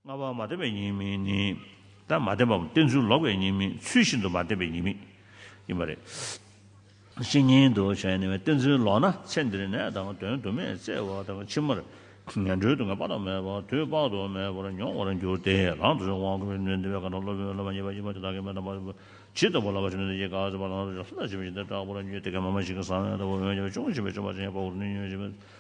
ལྔ་བ་མ་བསྟན་པའི་ཉེས་དམིགས་ནི། ད་མ་བསྟན་པའམ་བསྟན་ཚུལ་ལོག་པའི་ཉེས་དམིགས་ཚུལ་བཞིན་དུ་མ་བསྟན་པའི་ཉེས་དམིགས་ཡིན་པ་རེད། བཤེས་གཉེན་དུ་བྱས་ནས་བསྟན་ཚུལ་ལོག་ན་ཚེ་འདིར་ནད་དང་དོན་དུ་མས་གཙེ་བ་དང་ཕྱི་མར་ངན་འགྲོའི་དུག་ལྔ་དཔག་ཏུ་མེད་པ་དུས་དཔག་ཏུ་མེད་པར་མྱོང་བར་འགྱུར་ཏེ་རང་དུ་དབང་བསྐུར་བའི་ནུས་ལྡན་པའི་བཀའ་དང་སློབ་དཔོན་སློབ་མ་གཉིས་པ་གཉིས་པ་དེ་དག་གིས་མེ་དང་པར་ཇི་ལྟ་བུ་ལ་བ་ཞིག་ནུས་ལྡན་གྱིས་བཀའ་སྩལ་པ་ལ་ལྷུར་བྱེད་པ་བཞིན་དུ་སྐྲག་པར་ཉོན་ཏེ་གད་མ་མ་ཞིག་གི་ཟ་བའི་ལྟ་བུ་འོན་ཀྱང་ཅུང་ཞིག་པའི་ཆོ་ག་ཅན་ཡང་བོགས་འདོན་ཉོན་ཅིག་པའི་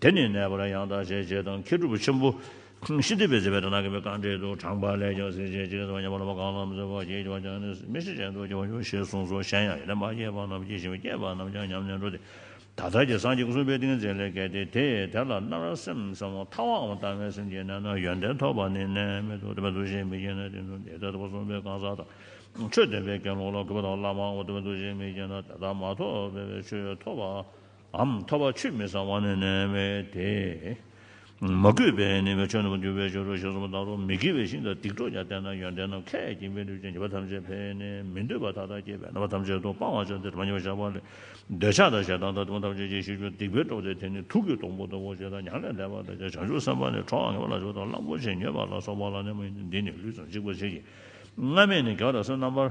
དེ་ནི་ནད་པར་ཡང་དག་བྱེད་ཅེས་དང་ཁྱེད་གྲུབ་ཆེན་པོ། ཤི་འདི་པའི་རྩིས་པའི་དགྲ་ནག་གི་མི་གང་དྲེད་དུ་དྲངས་པ་ལས་ཀྱང་སྲིད་ཅེས་ཅི་སྟེ་ཉེས་པར་ལོག་པ་གང་ལ་མི་བཟོད་པར་གྱིས་ཀྱང་ཀྱང་ནས་མི་ཤི་ཅན་དུ་སྐྱེ་བར་འགྱུར་ཞེས་གསུངས་སོ་གཞན་ཡང་ཡེ་ནས་མ་སྐྱེས་པ་རྣམས་ཀྱིས་བྱིན་པས་སྐྱེས་པ་རྣམས་ཀྱང་ཉམས་ནས་འགྲོ་སྟེ། ད་ལྟར་གྱི་སངས་རྒྱས་སྐུ་གསུམ་པའི་ཏིང་འཛིན་ལས་གལ་ཏེ་དེས་དེ་ལ་མནར་བ་སེམས་ཙམ་མོ་ཐ་བའམ་དྭངས་མའི་སེམས་ཀྱིས་གནས་ན་ཡོན་ཏན་ཐོབ་པ་ནི་གནས་མེད་དོ་དེ་བས་འདུ་ཤེས་མི་སྐྱེ་ན་དེ་ནི་འདས་དང་སྐུ་གསུམ་པའི་གང་ཟག་དང། ཆོས་སྟོན་པའི་དགེ་སློང་ལ་གུས་པ་དང་བླ་མའམ་དེ་བས་འདུ་ཤེས་མི་སྐྱེ་ན་དེ་དག་མ་ཐོབ་པས་ཆོས་ཐོབ་པ། འམ་ཐོ་བ་ཆུད་མི་ཟ་བ་ནི་ནད་བས་ཏེ། མ་གུས་པས་ནི་བའི་ཆོས་རྣམས་འགྱུར་བའི་ཕྱིར་རོ་ཞེས་གསུངས་པ་ལྟར་རོ། མི་དགེ་བའི་ཤིང་དང་སྡིག་གྲོགས་ཀྱང་བསྟེན་ན་ཡོན་ཏན་ནམ་མཁའི་ཁྱིམ་པའི་ལུས་ཅན་བྱིས་པ་ཐམས་ཅད་འཕེལ་ནས་མི་འདོད་པ་མཐའ་དག་སྐྱེས་པས་རྣམ་པ་ཐམས་ཅད་དུ་སྤང་བར་བྱ་སྟེ་དྲི་མ་ཉེ་བར་གཞག་པ་ལས་འདོད་ཆགས་དང་ཞེ་སྡང་དང་དྲི་མ་ཐམས་ཅད་ཀྱིས་ཤི་འགྱུར་སྡིག་པའི་གྲོགས་དེ་དེ་ནི་དུག་གི་སྡོང་པོ་ལྟ་བུ་ཞེས་དང་མྱང་ལས་འདས་པར་འདོད་ཅེས་བྱང་ཆུབ་སེམས་དཔའ་ནི་གྲོགས་ངན་པ་ལ་ཆུ་དང་གླང་པོ་ཆེ་མྱོས་པ་ལ་སོགས་པ་ལ་གནས་པ་ཡིན་ཏེ་འདི་ནི་ལུས་དང་འཇིག་པར་བྱེད་ཀྱི། སྔ་མས་ནི་དགེ་བ་དང་སེམས་རྣམ་པར།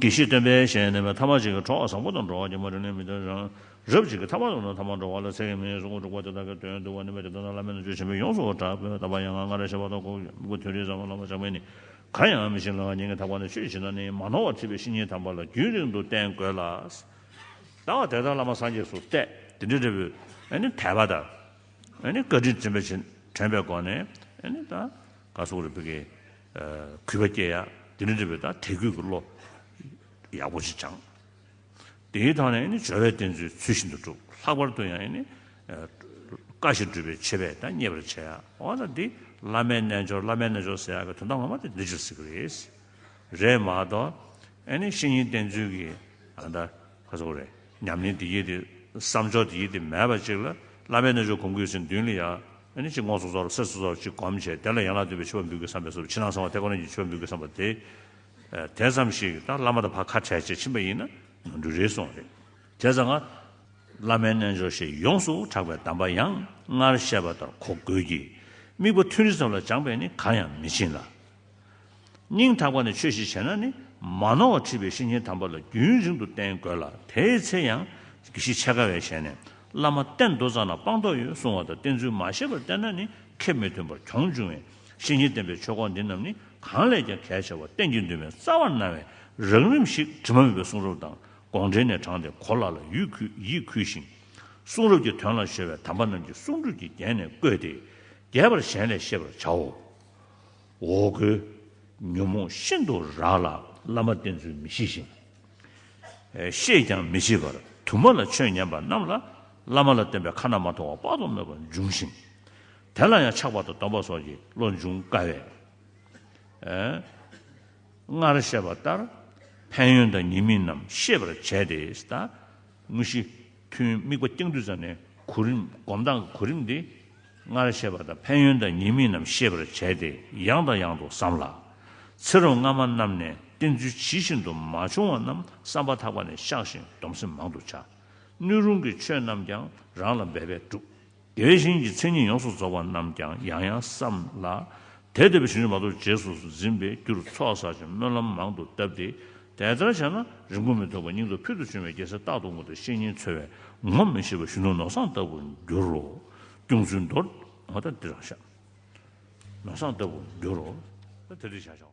གྱིས་ཤིག་སྟོན་པས་ཞེས་ནི་ཐ་མ་ཅིག་གི་གྲོགས་བཟང་པོ་དང་འགྲོགས་ཀྱི་མ་རིག་ནི་མི་འདོད་ཅིང། རབ་ཅིག་གི་ཐ་མ་དང་ནི་ཐ་མ་འགྲོགས་བ་ལ་ཚེ་གེ་མོའི་གཟུགས་སྒོ་དྲུག་པ་དེ་དག་གི་དོན་བསྡུ་བ་ནི་མི་རིགས་དོན་དང་བླ་མེད་ན་རྒྱུ་ཆེན་པོས་ཡོངས་སུ་གྲགས་པས་ད་བར་ཡང་ང་ང་རེ་ཞེས་པ་དང་ལྐོག་གུ་དོན་རིག་བཟང་པོ་ལ་མ་ཆགས་པས་ནི་གང་ཡང་མི་ཤེས་ལ་ཉིད་ཀྱི་དག་པ་ནི་ཆོས་ཅི་ན་ནི་མ་ནོར་བར་ཐིག་པའི་བཤེས་གཉེན་དམ་པ་ལ་རྒྱུན་རིང་དུ་བསྟེན་དགོས་ལ། ད་བར་དེ་དག་བླ་མ་སངས་རྒྱས་སུ་གཏད་དེ་འདྲའི་འབྲས་བུ་ནི་དད་པ་དང། བཀའ་དྲིན་དྲན་པའི་སྒོ་ནས་ད་ག་སུག་རེ་ཕུལ་གྱི། གུས་པ་སྐྱེ་ཡ། དེ་ནས་འབྲས་བུ་དང་དད་གུས་ཀྱི་བློ། ཡག་པོ་ཞིག་སྦྱངས། དེའི་ཐང་ནས་ནི་སྦྱོར་བའི་རྟེན་ཚུལ་ཚུལ་བཞིན་དུ་བསྒྲུབ། ལྷག་པར་དུ་ཡང་ནི། བཀའ་བཞིན་སྒྲུབ་པའི་ཆོས་པས་ད་མཉེས་པར་བྱ་ཡ། འོ་ན་འདི་བླ་མའི་རྣལ་འབྱོར་བླ་མའི་རྣལ་འབྱོར་ཟེར་ཡ་བའི་དོན་དང་ངོ་མ་དེ་འདི་འབྱོར་ཟེར་གྱི་རེད། རེད་མ་གཏོགས། ནི་ཤེས་ཡིན་བསྟན་ཚུལ་གྱི། ཨ་མདའ། ཁ་ཟུག་རེད། ཉམས་ལེན་འདི་གྱིས་ཏེ། བསམ་ཕྱོགས་འདི་གྱིས་ཏེ་མེད་པ་ཅིག་ལ། བླ་མའི་རྣལ་འབྱོར་གོམས་གུས་ཟིན་བདུན་ལ་ཡ། ནི་ཅིག་ངོགས་སུ་རྫོགས་ལ་སེམས་སུ་རྫོགས་ཅིག་བསྒོམ་བྱས་དེ་ལ་ཡན་ལག་བདུན་པའི་ཆུ་བོ་འབུལ་གྱི་བསམ་པས་སུ་ཕྱི་ནང་གསང་བ་ཐེག་པ་རྣམས་ཀྱི་ཆུ་བོ་འབུལ་གྱི་བསམ་པ་དེ། དེ་ཙམ་ཞིག་ད་བླ་མ་དང་བར་ཁ་བྲལ་བྱེད་ཕྱིན་པ་ཡིན་ན་འབྲུ་རེ་སོང་རེད། དེ་ཙམ་ང། བླ་མའི་རྣལ་འབྱོར་ཞེས་ཡོངས་སུ་གྲགས་པའི་གདམས་པ་ཡང་སྔར་བཤད་པ་ལྟར་གོ་དགོས་ཀྱི། དམིགས་པ་ཐུན་རེ་ཙམ་ལ་སྦྱངས་པས་ནི་གང་ཡང་མི་ཕྱིན་ལ། སྙིང་ཐག་པ་ནས་ཆོས་ཞིག་བྱེད་ན་ནི་མ་ནོར་བར་ཁྲིད་པའི་ཤེས་ཉེན་དམ་པ་ལ་རྒྱུན་རིང་དུ་བསྟེན་དགོས་ལ་དེའི་ཚེ་ཡང་གཞི་ཆེ་དགའ་བས་བྱས་ནས་བླ་མ་གཏན་མདོ་ཙམ་ན་སྤངས་རྟོགས་ཡོད་གསུང་བ་དང་བསྟེན་ཚུལ་མ་ཤེས་པར་བསྟེན་ན་ནི་ཁེབས་མི་མཐུན་པར་གྱོང་འབྱུང་བས་ཤེས་ཉེན་བསྟེན་པའི་ཆོས་སྐོར་འདི་རྣམས་ནི་གང་ལས་ཀྱང་གལ་ཆེ་བར་གཏན་གྱི་འདུན་མའི་རྩ་བར་སྣང་བས་རགས་རིམ་ཞིག་དྲི་མ་མེད་པའི་གསུང་རབ་དང་དགོངས་འགྲེལ་ནས་དྲངས་ཏེ་གོ་སླ་ལ་ཡིད་འཁུལ་ཞིང། གསུང་རབ་ཀྱི་དོན་ལ་གཞོལ་བའི་དམ་པ་རྣམས་ཀྱི་གསུང་སྒྲོས་ཀྱིས་བརྒྱན་ནས་བཀོད་དེ་རྒྱས་པར་གཞན་ལས་ཤེས་པར་བྱའོ། འོ་སྐོལ། ཉོན་མོངས་ཤིན་ཏུ་རགས་ལ་བླ་མ་བསྟེན་ཚུལ་མི་ཤེས་ཤིང། ཤེས་ཀྱང་མི་བྱེད་པར་དུ་མ་ལ་ཆོས་ཉན་པ་རྣམས་ལ་བླ་མ་ལ་བསྟེན་པའི་ཁ་ན་མ་ཐོ་བ་དཔག་ཏུ་མེད་པ་འབྱུང་ཞིང། དེ་ལ་ཡང་ཆགས་པ་དང་སྡོམ་པ་སོགས་ཀྱི་བློ་འབྱུང་དཀའ་བས། སྔར་བཤད་པ་ལྟར་ཕན་ཡོན་དང་ཉེས་དམིགས་རྣམས་ཤེས་པར་བྱས་ཏེ། དངོས་གཞི། ཐུན་དམིགས་པ་སྟེང་བསྡུས་ཙམ་ནས་གོ་རིམ་སྒོམ་སྟངས་ཀྱི་གོ་རིམ་འདི། སྔར་བཤད་པ་དང་ཕན་ཡོན་དང་ཉེས་དམིགས་རྣམས་ཤེས་པར་བྱས་ཏེ་ཡང་དང་ཡང་དུ་བསམ་ལ། ཚེ་རོགས་སྔ་མ་རྣམས་ནས་བསྟེན་ཚུལ་ཇི་བཞིན་དུ་མ་བྱུང་བ་རྣམས་བསམ་པ་ཐག་པ་ནས་བཤགས་ཤིང་སྡོམ་སེམས་མང་དུ་བྱ། སྣོད་རུང་གི་ཆོས་རྣམས་ཀྱང་རང་ལ་འབད་པས་བསྒྲུབ། དེ་བཞིན་གྱི་མཚན་ཉིད་ཡོངས་སུ་རྫོགས་པ་རྣམས་ཀྱང་ཡང་ཡང་བསམ་ལ། དེ་འདོད་པའི་ཞིང་རེ་མ་གཏོགས་རྗེས་སུ་འཛིན་པའི་རྒྱུར་ཚོགས་བསགས་ཀྱི་སྨོན་ལམ་མང་དུ་བཏབ་སྟེ། དེ་ལྟར་བྱས་ན་རིང་པོ་མི་ཐོགས་པར་སྙིང་དང་ཕུལ་དུ་བྱུང་བའི་རྒྱལ་སྲས་རྟག་ཏུ་ངུ་དང་བཤེས་གཉེན་འཚོལ་བས་ངོམས་མི་ཤེས་པ་གཞོན་ནུ་ནོར་བཟང་ལྟ་བུར་འགྱུར་རོ། སྐྱོང་ཚུལ་མདོར་ན་འདི་རང་ཤ་ནོར་བཟང་ལྟ་བུར་འགྱུར་རོ། དེ་འདི་བྱ་བྱའོ།